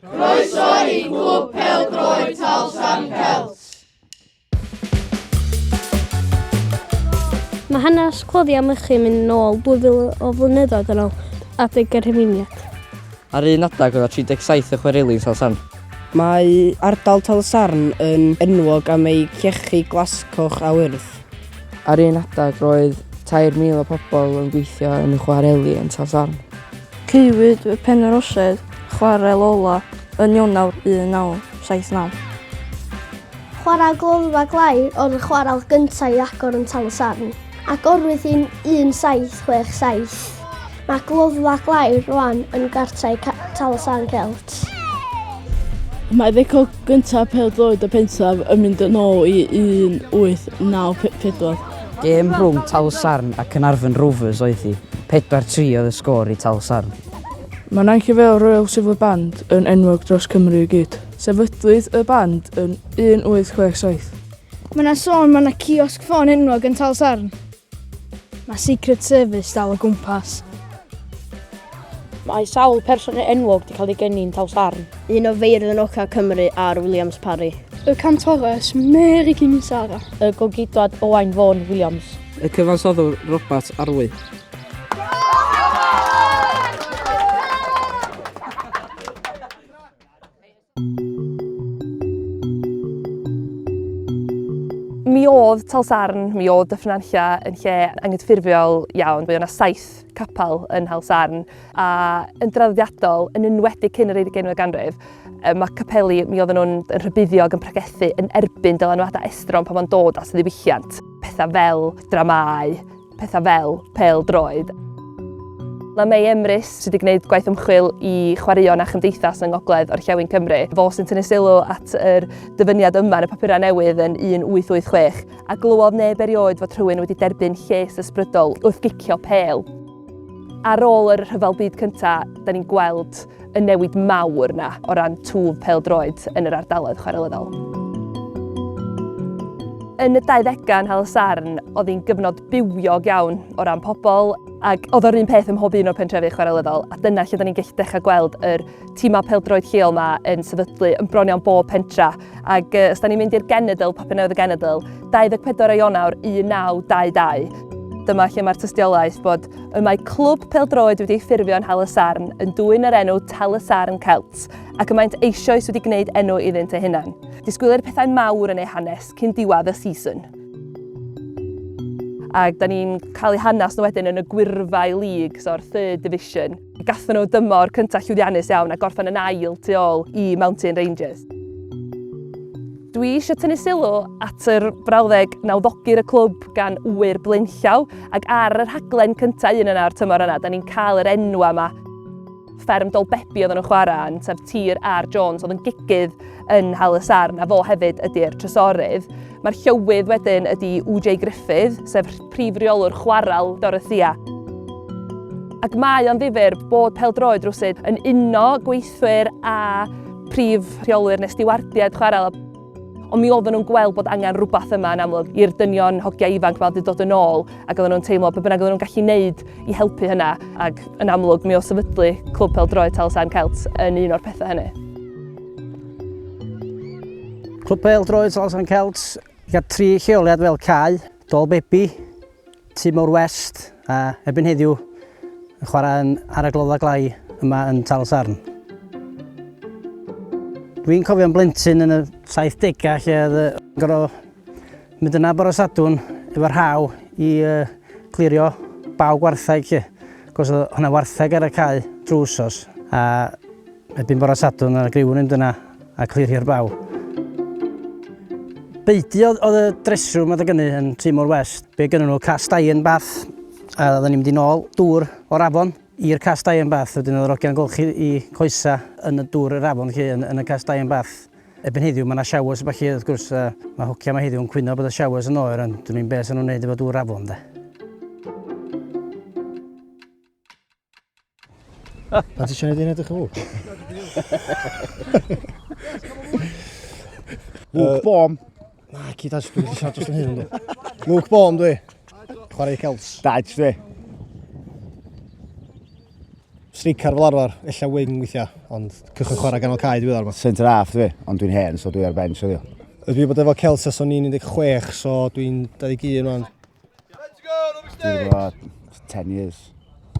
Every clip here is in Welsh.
Croeso i Glwb Pel Droed Talsan Celt. Mae hanes cloddi am ychydig mynd nôl 2000 o flynyddoedd yn ôl adeg y rhifeiniad. Ar un adeg oedd 37 y chwerelin Talsan. Mae ardal Talsarn yn enwog am ei llechi glascoch a wyrdd. Ar un adeg roedd 3,000 o pobl yn gweithio yn y chwareli yn Talsarn. Caewyd fy Penyrorsedd, chwarel ola, yn Ionawr 1979. Chwarae gloddfa glai oedd y chwarel gyntaf i agor yn Tal-y-sarn. Agorwyd yn 1767. Mae gloddfa glai rwan yn gartrau Tal-y-sarn Celt. Mae record gyntaf pêl-droed y pentref yn mynd yn ôl i 1894. Gêm rhwng Talsarn a Caernarfon Rovers oedd hi, 4-3 oedd y sgôr i Talsarn. Mae Nain Cyfeil Royal Silver Band yn enwog dros Cymru i gyd. Sefydlwyd y band yn 1867. Mae yna sôn mae yna ciosg ffôn enwog yn Talsarn. Mae Secret Service dal o gwmpas. Mae sawl person enwog wedi cael ei geni'n Taws Arn. Un o feirdd yn Oca Cymru ar Williams Parry. Y cantores Mary Kimisara. Y gogidwad Owain Vaughan Williams. Y cyfansoddwr Robert Arwy. Mi oedd Talsarn, mi oedd Dyffryn-Anlla yn lle anghydffurfiol iawn. Fe oedd yna saith capel yn Nhalsarn a yn draddodiadol, yn enwedig cyn yr 20fed ganrif, mae capeli, mi oedden nhw'n yn rhybuddiog, yn pregethu yn erbyn dylanwadau estron pan fo'n dod at ddiwylliant. Pethau fel dramâu, pethau fel pêl-droed. Mae Mei Emrys, sydd wedi gwneud gwaith ymchwil i chwaraeon a chymdeithas yng Ngogledd Orllewin Cymru, fo sy'n tynnu sylw at yr dyfyniad yma yn y papurau newydd yn 1886, a glywodd neb erioed fod rhywun wedi derbyn lles ysbrydol wrth gicio pêl. Ar ôl yr Rhyfel Byd Cyntaf, da ni'n gweld y newid mawr yna o ran twf pêl-droed yn yr ardaloedd chwarelyddol. Yn y 20au yn Hal Sarn, oedd hi'n gyfnod bywiog iawn o ran pobl, ac oedd o'r un peth ym mhob un o'r pentrefi chwarelyddol, a dyna lle da ni'n gallu dechrau gweld yr tîmau pêl-droed lleol yma yn sefydlu yn bron iawn bob pentra. Ac os da ni'n mynd i'r genedl, papur newydd y genedl, 24 o Ionawr 1922, dyma lle mae'r tystiolaeth bod Y mae clwb peldroed wedi ei ffurfio yn Hal y Sarn yn dwyn yr enw Tal y Sarn Celts ac y maent eisioes wedi gwneud enw iddynt eu hunain. Disgwylir pethau mawr yn eu hanes cyn diwadd y season ac da ni'n cael eu hanes nhw wedyn yn y gwyrfau league, so'r third division. Gathen nhw dymor cyntaf llwyddiannus iawn a gorffen yn ail tu ôl i Mountain Rangers. Dwi eisiau tynnu sylw at yr brawddeg nawddogir y clwb gan wyr blaenllaw ac ar y rhaglen cyntaf un yna o'r tymor yna, da ni'n cael yr enw yma fferm Dolbebi oedd nhw'n chwarae yn, sef tir ar Jones oedd yn gigydd yn Hal y Sarn, a fo hefyd ydy'r trysorydd. Mae'r llywydd wedyn ydy UJ Griffith, sef prif reolwr chwarael Dorothea. Ac mae o'n ddifyr bod peldroed rwsyd yn uno gweithwyr a prif rheolwyr nes diwardiad chwarael. Ond mi oedden nhw'n gweld bod angen rhywbeth yma yn amlwg i'r dynion hogiau ifanc mae wedi dod yn ôl ac oedden nhw'n teimlo beth bynnag oedden nhw'n gallu wneud i helpu hynna ac yn amlwg mi o sefydlu Clwb Pel Droed Talsarn Celts yn un o'r pethau hynny. Clwb Pel Droed Salsan Celt, gyda tri lleoliad fel Cai, Dol Bebi, Timor West a ebyn heddiw yn chwarae yn ar y glodda glai yma yn Tal Sarn. Dwi'n cofio'n blentyn yn y 70au lle oedd y gorau mynd yna bore sadwn efo'r haw i uh, clirio baw gwartheg lle. Cos oedd hwnna wartheg ar y cae drwy wsos. A Erbyn bore Sadwrn ar y griwn yn dyna a clir hir baw. Beidio oedd y dresrwm adeg ynny yn Timor West. Be gynnyn nhw, cast iron bath, a oedden ni'n mynd i nôl dŵr o'r afon i'r cast iron bath. Wedyn oedd yr ogiau'n golchi i coesa yn y dŵr yr afon chi, yn, yn y cast iron bath. Ebyn heddiw mae yna showers a falle, wrth gwrs, a mae hogia mae heddiw'n cwyno bod y showers yn oer, ond dwi'n i'n beth sy'n nhw'n neud efo dŵr afon, de. Pan ti siarad i'n edrych yn fawr? Luke Baum. Na, ci da, dwi'n wedi siarad dros yn hyn. Luke Baum, dwi. Chwarae Celts. Dad, dwi. Stricar fel arfer, illa wing weithiau, ond cychwyn chwarae ganol cae dwi ddod yma. Centre half dwi, ond dwi'n hen, so dwi ar bench o ddiw. Ydw i bod efo Celts as o'n i'n 16, so dwi'n 21 rwan. Let's go, Robbie Stage! Dwi'n gwybod, 10 years.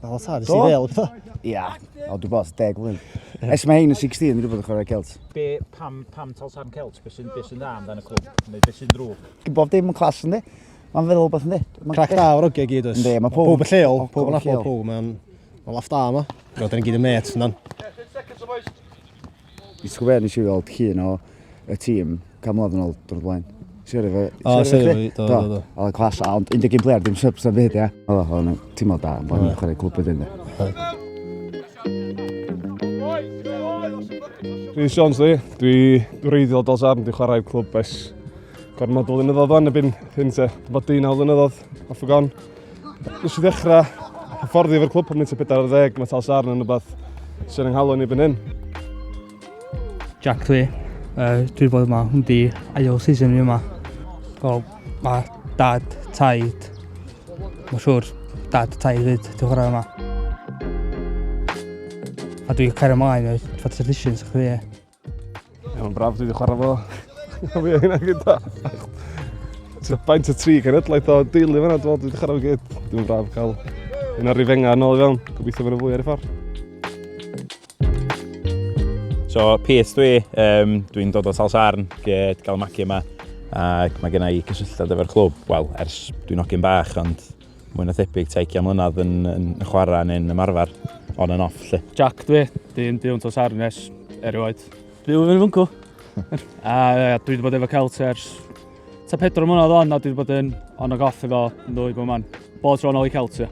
O, ta, nes i ddel, gyda? Ia, o, dwi'n gwybod, 10 blwydd. Es mae hyn yn 16, dwi'n gwybod yn chwarae Celt. Be, pam, pam tal tan Celt? Be sy'n be sy dda amdano y clwb? Neu be sy'n drwg? Dwi'n bob dim yn clas, ynddi? Mae'n feddwl beth, ynddi? Crac da o'r ogiau gyd, oes? Ynddi, mae pob... Pob y lleol, pob yn abod pob, mae'n... Mae'n laff da yma. Roedd yn gyd y met, ynddo. Ti'n gwybod be, nes i weld llun o y tîm gan mlynedd yn ôl drwy'r blaen. Siarad efo... O, siarad efo fi, do, do, do. Oedd yn clas, ond 11 player, dim subs am fyd, ia. Oedd o'n tîm o da, ond o'n i'n chwarae clwb wedyn, de. Dwi Sions dwi, dwi wreiddiol dos arn, dwi'n chwarae clwb ers gormod o flynyddoedd o'n, ebyn hyn te, bod 19 flynyddoedd, off y gon. Nes i ddechrau hyfforddi efo'r clwb pan mynd i 40, mae Tal Sarn yn rhywbeth sy'n ynghalw ni fan hyn. Jack dwi, uh, dwi bod yma, hwn di ail season fi yma. So, mae dad, taid, mae'n siŵr dad, taid fyd, dwi'n chwarae yma. A dwi'n cario ymlaen o'r Fantasy Editions, chdi. Mae'n braf, dwi wedi chwarae fo. Fi a hynna gyda. Baint y tri genedlaeth o deulu fanna, dwi'n wedi chwarae fo gyd. Dwi'n braf cael un o'r rifenga yn ôl i fewn. Gobeithio fan y fwy ar y ffordd. So, peth dwi, um, dwi'n dod o Talsarn, gyd gael magu yma. Ac mae gennau cysylltiad efo'r clwb, wel, ers dwi'n ogyn bach, ond mwy na thebyg ta ugian mlynedd yn, yn chwarae neu'n ymarfer on and off lle. Jack dwi, dwi'n byw yn tos arnes erioed. Byw yn fyncw. a ia, dwi wedi bod efo Celt ers ta pedro mlynedd on a dwi wedi bod yn on ag off efo nhw i bod man. Bod tro yn ôl i Celt ia.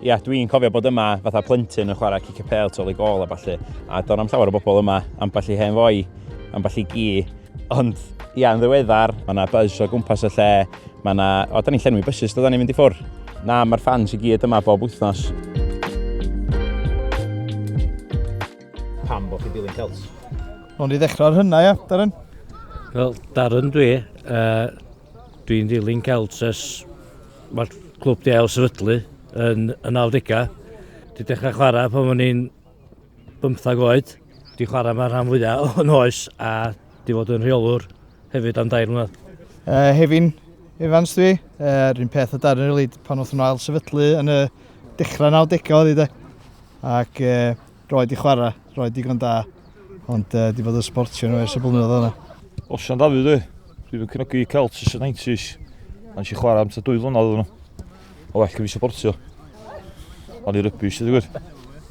Ia, dwi'n cofio bod yma fatha plentyn yn chwarae cic y pel tol i gol a balli. A do'n am llawer o bobl yma, ambell i hen foi, ambell i gi. Ond ia, yn ddiweddar, mae yna buzz o gwmpas y lle, Mae yna... O, da ni'n llenwi bysus, da ni'n mynd i ffwrdd. Na, mae'r ffans i gyd yma bob wythnos. Pam bod chi dilyn Celts? Ond i ddechrau ar hynna, ia, Darren? Wel, Darren dwi. Uh, dwi'n dilyn Celts ys mae'r clwb di ail sefydlu yn y 90au. Di dechrau chwarae pan o'n i'n bymthag oed, wedi chwarae yma rhan fwyaf o'n oes a wedi fod yn rheolwr hefyd am dair mlynedd. Uh, Hefin Evans dwi, uh, rhywun peth o Darren rili, pan wrth nhw ail sefydlu yn y dechrau 90 oedd hi de. Ac uh, roed i chwarae, roed digon da, ond uh, di bod yn sportio nhw ers y blynyddoedd yna. Osian Dafydd dwi, dwi'n cynnogi Celts ys y 90s, ond si chwarae am ta dwy flynedd nhw. Mae'n well gen i supportio. O'n i rybys, ydy gwir.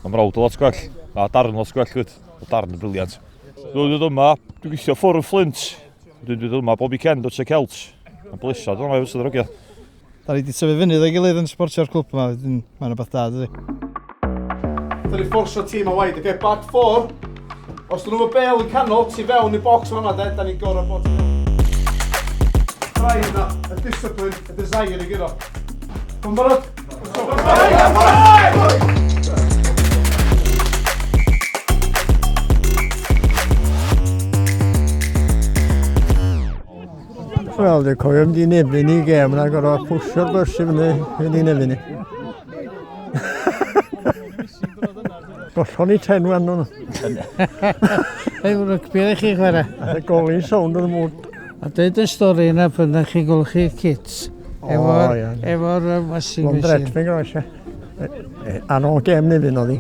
Mae mrawd o lot gwell. Mae darn lot gwell, gwyd. Mae darn yn briliant. Dwi'n dod yma, dwi'n gweithio ffwrdd y fflint. Dwi'n dod yma bob i cend o Tre Celt. Mae'n blesad o'n rhaid fod sy'n Da ni wedi tyfu fyny ddo'i gilydd yn supportio'r clwb yma. Mae'n rhywbeth da, dydy. Dyn ni fforsio tîm a waid, oce, back four. Os dyn nhw'n y bel yn canol, ti fewn i'r box yma, de, da ni'n gorau bod. Trai yna, y discipline, y desire i gyro. Mae'n barod? Mae'n barod! Wel, dwi'n cofio mynd i'n efin i gem, yna gorau pwsio'r bys i fyny, mynd i'n efin i. Gollon ni ten wan nhw. Ei wrwg byr i chi chwarae. A golyn sound yn y mwd. A dweud y stori yna pan ydych chi'n golchi kits. Efo'r efo washing machine. Londret, fe groes e. Ar ôl gem ni fydd noddi.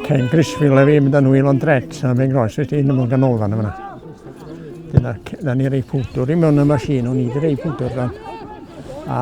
Ken Grisfield a fi mynd â nhw i Londret, a fe groes i ti'n ymwneud gan olfan yma. Dyna, da ni rei pwdwr i mewn y machine, o'n i wedi rei pwdwr dan. A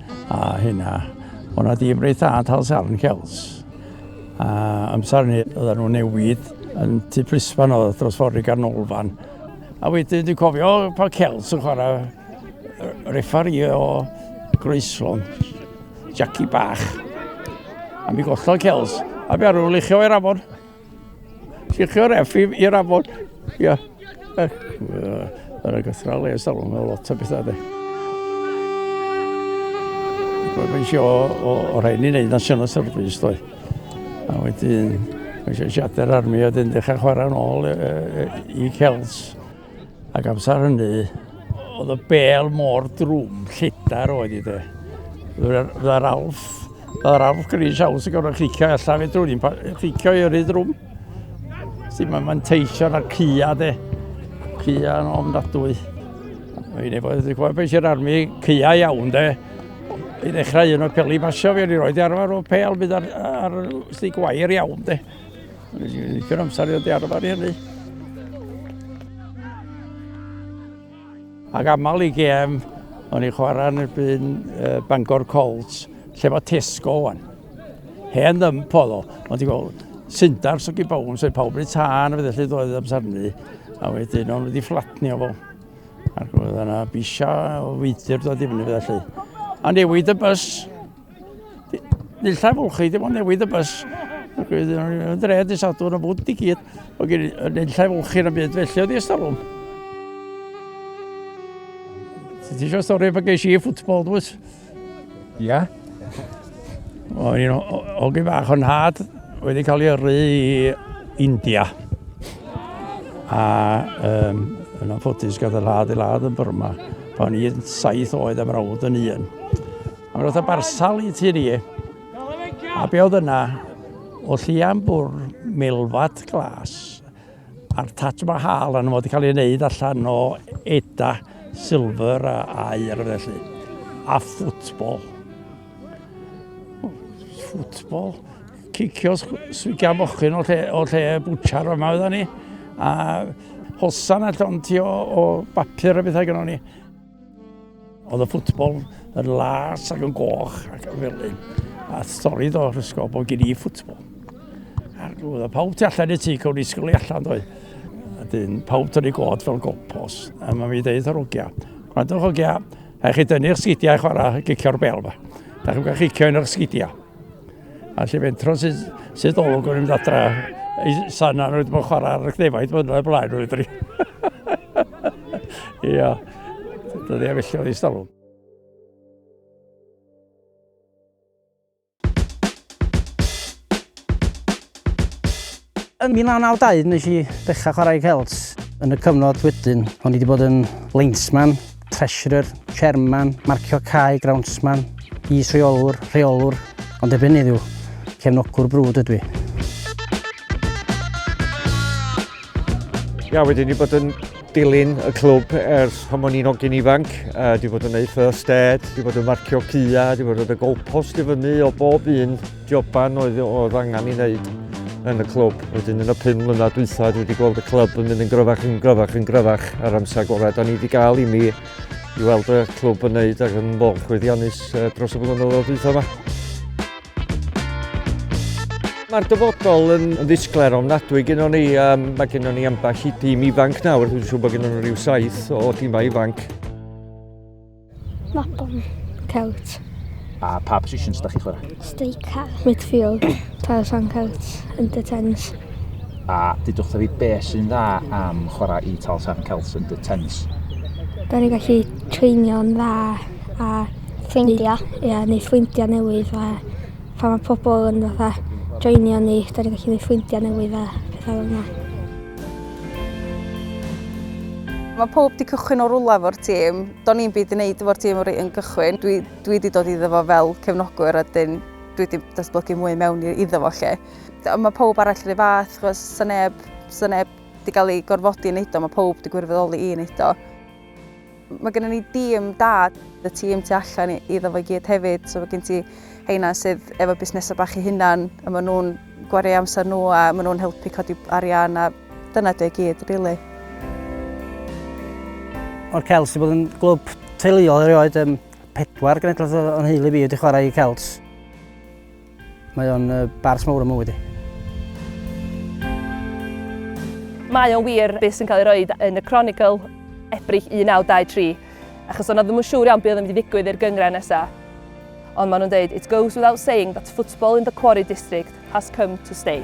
A hynna, o'n na ddim reit dda tal sarn cels. A amser ni, oedden nhw newid yn tu plisfan oedd dros ffordd i ganolfan. A wedyn dwi'n cofio pa cels yn chwarae refari o Groeslon, Jackie Bach. A mi gollodd cels, a mi arwr lechio i'r afon. Sicr, effi i'r afon. Ia. Yr agosrau le ystal, mae lot o bethau de. Roedd yn sio o, o rhaid ni wneud national service doi. A wedyn, mae eisiau siater armi a dyn dechrau chwarae'n ôl e, e, e, i Celts. Ac amser hynny, oedd y bel mor drwm, lledar oedd i de. Fydda'r alf, fydda'r alf gris aws yn gorfod clicio allan fe drwm, ni'n clicio i yrru drwm. Sy'n mae'n manteisio na cya de, cya yn ofnadwy. Mae un efo, dwi'n gwybod beth sy'n armi, cya iawn de. I ddechrau un o'r peli basio fi, o'n i roed i arfer o pel, bydd ar, ar, ar stig wair iawn de. Dwi'n amser i oedd arfer i hynny. Ac aml i gem, o'n i chwarae yn erbyn uh, Bangor Colts, lle mae Tesco o'n. Hen ddim oedd o, ond ti'n gweld, syndar sy'n gyda bawb, sy'n pawb yn tân, fe ddechrau ddoedd amser ni, a wedyn o'n wedi fflatnio fo. Ac oedd yna bisia o feidir dod i fyny fe ddechrau. A newid y bus, Nillaf fwlchu, dim ond newid y bus. Yn dre, di sadwn y bwnt i gyd. Oedd gen i nillaf fwlchu yn y byd, felly oedd i ystalwm. Ti eisiau stori pa geis i ffwtbol, dwi? Ia. O'n i'n ogi bach o'n had wedi cael ei yrru i India. A um, yn anffodus gath y lad i lad yn Burma pan i'n saith oed am rawd yn un. Mae'n rhywbeth barsal i ti ni. A be oedd yna? O llian bwr, milfad glas, a'r Taj Mahal yn fod i cael ei wneud allan o eda, silver a air felly. A ffwtbol. Ffwtbol. Cicio swigia mochyn o lle, o lle bwchar yma oedda ni. A hosan allan ti o, o bapur a bethau gyda ni. Oedd y ffwtbol yn las ac yn goch ac yn felyn. A stori do ysgol bod gen i ffwtbol. A'r oedd pawb ti allan i ti, cawn i sgol i allan doi. A dyn, pawb tynnu god fel gopos. A mae mi ddeud ar ogia. Gwrandwch ogia, a chi dynnu'ch sgidiau chwarae gicio'r bel fa. Da chi'n cael chicio yn eich sgidiau. A lle fe'n tro sydd, sydd olwg o'n mynd adra, ei sana nhw wedi bod chwarae ar y cnefaid fyna y blaen nhw ydri. Ia, dydy a felly oedd ei stalwm. Yn 1992 wnes i ddechrau chwarae celts. Yn y cyfnod wedyn, o'n i wedi bod yn linesman, treasurer, chairman, marcio cae, groundsman, is-reolwr, rheolwr, ond erbyn heddiw, cefnogwr brwd ydw i. Ia, wedyn i bod yn dilyn y clwb ers pan o'n i'n hogyn ifanc. Uh, di fod yn neud first aid, di fod yn marcio cua, di fod yn y golpost i fyny o bob un joban oedd, oedd angen i wneud yn y clwb. Wedyn yn y pum mlynedd dwytha, dwi wedi gweld y clwb yn mynd yn gryfach yn gryfach yn gryfach ar amser gorau. Da ni wedi gael i mi i weld y clwb yn neud ac yn mor chwyddiannus dros y blynyddoedd dwytha yma. Mae'r dyfodol yn ddisglair ofnadwy gyda ni. Um, mae gyda ni ambell i dîm ifanc nawr. Dwi'n siŵr bod gyda nhw rhyw saith o dîmau ifanc. Mabon, cewt. A pa positions ydych chi'n chwarae? Steica. Midfield, Tarzan Celts, Under 10s. A dydwch fi be sy'n dda am chwarae i Tarzan Celts Under 10s? Da ni gallu treinio'n dda a ffrindia. Ia neu ffrindia newydd a phan ma' pobol yn fatha joinio ni 'dan ni'n gallu neu' ffrindia newydd a petha fel 'na. Mae pob 'di cychwyn o rwla efo'r tîm. Do'n i'n byd i wneud efo'r tîm o'r un cychwyn. Dwi, dwi di dod iddo fo fel cefnogwr a dyn dwi di datblygu mwy mewn iddo fo lle. Ond mae pob arall rhy fath, chos sy'n neb, sy'n neb di gael ei gorfodi i wneud o, mae pob di gwirfoddoli i wneud o. Mae gennym ni dîm da, y tîm tu allan iddo fo i gyd hefyd, so mae gen ti heina sydd efo busnesau bach i hunan, a maen nhw'n gwario amser nhw a maen nhw'n helpu codi arian a dyna dy gyd, really. O'r Celts, i bod yn glwb teuluol erioed, um, pedwar genedlaeth o'n heulu fi wedi chwarae i Celts. Mae o'n bars mawr o mywyd i. Mae o'n wir beth sy'n cael ei roed yn y Chronicle, Ebrill 1923, achos o'n ddim yn siŵr iawn beth oedd yn mynd i ddigwydd i'r gyngren nesaf. Ond maen nhw'n dweud, it goes without saying that football in the Quarry District has come to stay.